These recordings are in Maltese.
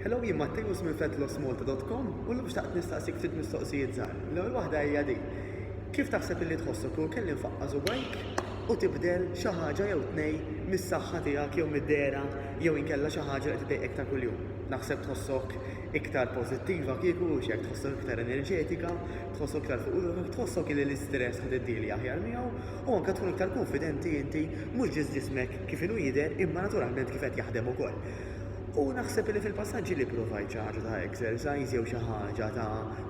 Hello, jien Matteus minn fetlosmalta.com u l-lum xtaqt nistaqsik ftit mistoqsijiet żgħar. L-ewwel waħda hija di. Kif taħseb illi tħossok kieku kelli nfaqqa' subajk u tibdel xi ħaġa jew tnej mis-saħħa tiegħek jew mid-dehra jew inkella xi ħaġa li qed iddejqek ta' kuljum? Naħseb tħossok iktar pożittiva kieku, hux hekk, tħossok iktar enerġetika, tħossok iktar fuq ruħek, tħossok illi l-istress ħa tiddieli aħjar miegħu u anke tkun iktar kunfidenti inti mhux biss ġismek kif inhu jidher imma naturalment kif qed jaħdem ukoll. U naħseb li fil-passaġġi li pprovajt xi ħaġa ta' exercise jew xi ħaġa ta'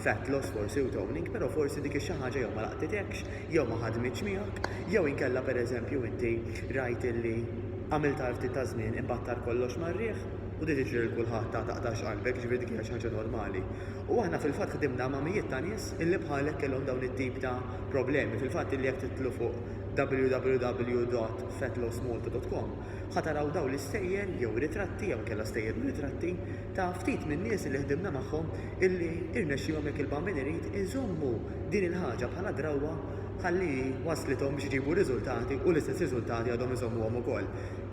fat loss forsi u toning però forsi dik ix-xi ħaġa jew ma laqtitekx jew ma ħadmitx miegħek jew inkella pereżempju inti rajt illi għamiltha għal ftit ta' żmien imbagħad tar kollox mar-riħ u di tiġri lil kulħadd ta' taqtax qalbek jiġifieri dik hija xi ħaġa normali. U aħna fil-fatt ħdimna ma' mijiet ta' nies illi bħalek kellhom dawn it-tip ta' problemi fil-fatt illi jekk titlu fuq www.fetlosmalta.com ħa taraw dawn l-istejjer jew ritratti jew inkella stejjer u ritratti ta' ftit min-nies li ħdimna magħhom illi irnexxielhom jekk il-bambin irid iżommu din il-ħaġa bħala drawwa ħalli hi wasslithom biex iġibu riżultati u l-istess riżultati għadhom iżommuhom ukoll.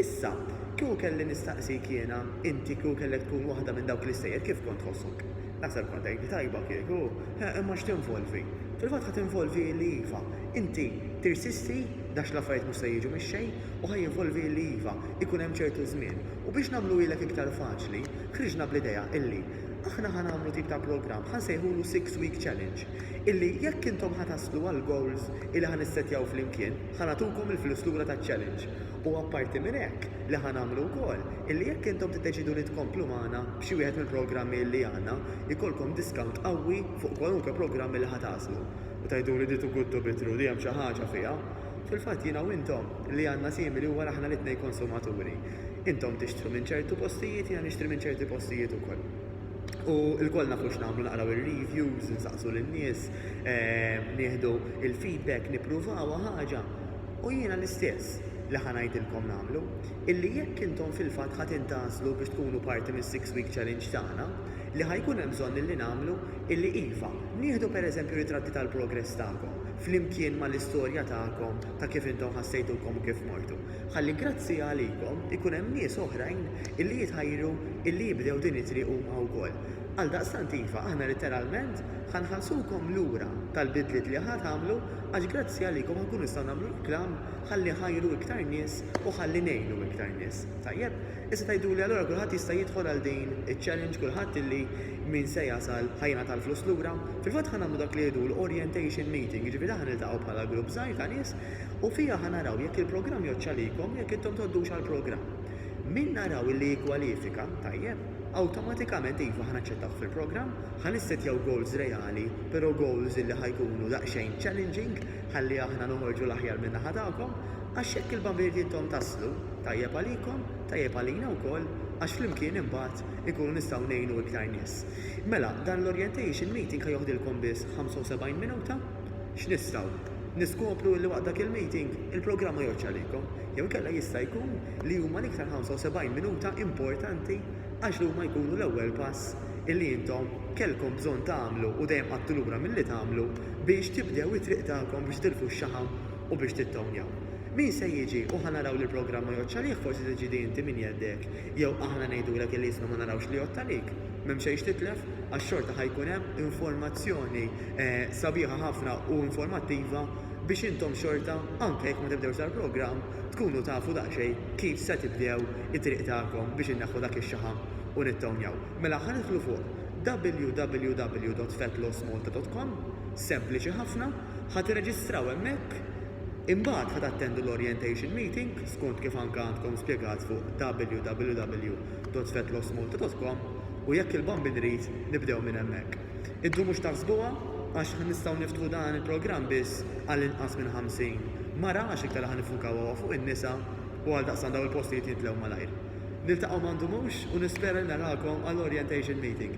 Issa, kieku kelli nistaqsik jiena, inti kieku kellek tkun waħda minn dawk l-istejjer kif kont tħossok? Naħseb kont tgħidli tajba kieku, eh, imma x'tinvolvi? Fil-fatt ħa tinvolvi illi iva, inti tirsisti ghax l-affarijiet mhux se jiġu mix-xejn u ħa jinvolvi illi iva, ikun hemm ċertu żmien. U biex nagħmluhielek iktar faċli, ħriġna bl-idea illi aħna ħa nagħmlu tip ta' programm ħa nsejħulu Six Week Challenge, illi jekk intom ħa taslu għall-goals illi ħa nissettjaw flimkien, ħa nagħtukom il-flus lura taċ-challenge. U apparti minn hekk, li ħa nagħmlu wkoll, illi jekk intom tiddeċiedu li tkomplu magħna b'xi wieħed mill-programmi illi għandna, jkollkom discount qawwi fuq kwalunkwe programm illi ħa tagħżlu. U tgħiduli di tuguttu bittru, di hemm xi ħaġa fiha? Fil-fatt jiena u intom, li għandna simili huwa li aħna l-itnejn konsumaturi. Intom tixtru minn ċertu postijiet, jiena nixtri minn ċerti postijiet ukoll. U lkoll nafu x'nagħmlu, naqraw ir-reviews, insaqsu lin-nies, nieħdu l-feedback, nippruvaw ħaġa. U jiena l-istess li ħa ngħidilkom nagħmlu, illi jekk intom fil-fatt ħa tintgħażlu biex tkunu parti mis-Six Week Challenge tagħna, li ħa jkun hemm bżonn illi nagħmlu, illi iva, nieħdu per eżempju ritratti tal-progress tagħkom, flimkien ma' l-istorja tagħkom ta' kif intom ħassejtukom u kif mortu, ħalli grazzi għalikom ikun hemm nies oħrajn illi jitħajru illi jibdew din it-triq huma wkoll. Għaldaqstant iva, aħna litteralment ħa nħallsukom lura tal-bidliet li ħa tagħmlu, Għax grazzi għalikom inkunu nistgħu nagħmlu reklam ħalli nħajru iktar nies u ħalli ngħinu iktar nies. Tajjeb, issa tgħiduli allura kulħadd jista' jidħol għal din iċ-challenge kulħadd illi min se jasal ħa jingħata l-flus lura? Fil-fatt ħa nagħmlu dak li jgħidu l-orientation meeting, jiġifieri ħa niltaqgħu bħala grupp żgħir ta' nies u fiha ħa naraw jekk il-programm jgħoddx għalikom u jekk intom tgħoddux għall-programm. Min naraw illi jikkwalifika, tajjeb, awtomatikament iva ħa naċċettawh fil-programm, Ħa nissettjaw goals reali, pero goals li ħa jkunu daqsxejn challenging ħalli aħna noħorġu l-aħjar minn naħa tagħkom, għax hekk il-Bambirdi intom taslu. Tajjeb għalikom, tajjeb għalina wkoll għax flimkien imbagħad inkunu nistgħu ngħinu iktar nies. Mela, dan l-orientation meeting ħa joħdilkom biss 75 minuta. X'nistgħu niskopru li waqt dak il-meeting il-programm ma jgħoddx għalikom, jew inkella jista' jkun li huma l-iktar 75 minuta importanti, għax huma jkunu l-ewwel pass illi intom kellkom bżonn tagħmlu u dejjem qgħadtu lura milli tagħmlu biex tibdew it-triq tagħkom biex titilfu x-xaħam u biex tittownjaw. Min se jiġi u ħa naraw li l-programm ma jgħoddx għalih forsi se tiġi inti minn jeddek jew aħna ngħidulek illi isma' ma narawx li jgħodd għalik. M'hemm xejn x'titlef għax xorta ħa jkun hemm informazzjoni sabiħa ħafna u informattiva biex intom xorta anke jekk ma tibdewx dal-programm tkunu tafu daqsxejn kif se tibdew it-triq tagħkom biex inneħħu dak ix-xaħam u nittownjaw. Mela ħa nidħlu fuq www.fatlosmalta.com, sempliċi ħafna, ħa tirreġistraw hemmhekk, imbagħad ħa tattendu l-orientation meeting skont kif anke għandkom spjegat fuq www.fatlosmalta.com u jekk il-Bambin irid nibdew minn hemmhekk. Iddu mhux taħsbuha għax ħa nistgħu niftħu dan il-programm biss għal inqas minn 50 mara għax iktar li ħa niffukaw huwa fuq in-nisa u għaldaqstant dawn il-postijiet jimtlew malajr. Niltaqgħu ma ndumux u nispera li narakom għall-orientation meeting.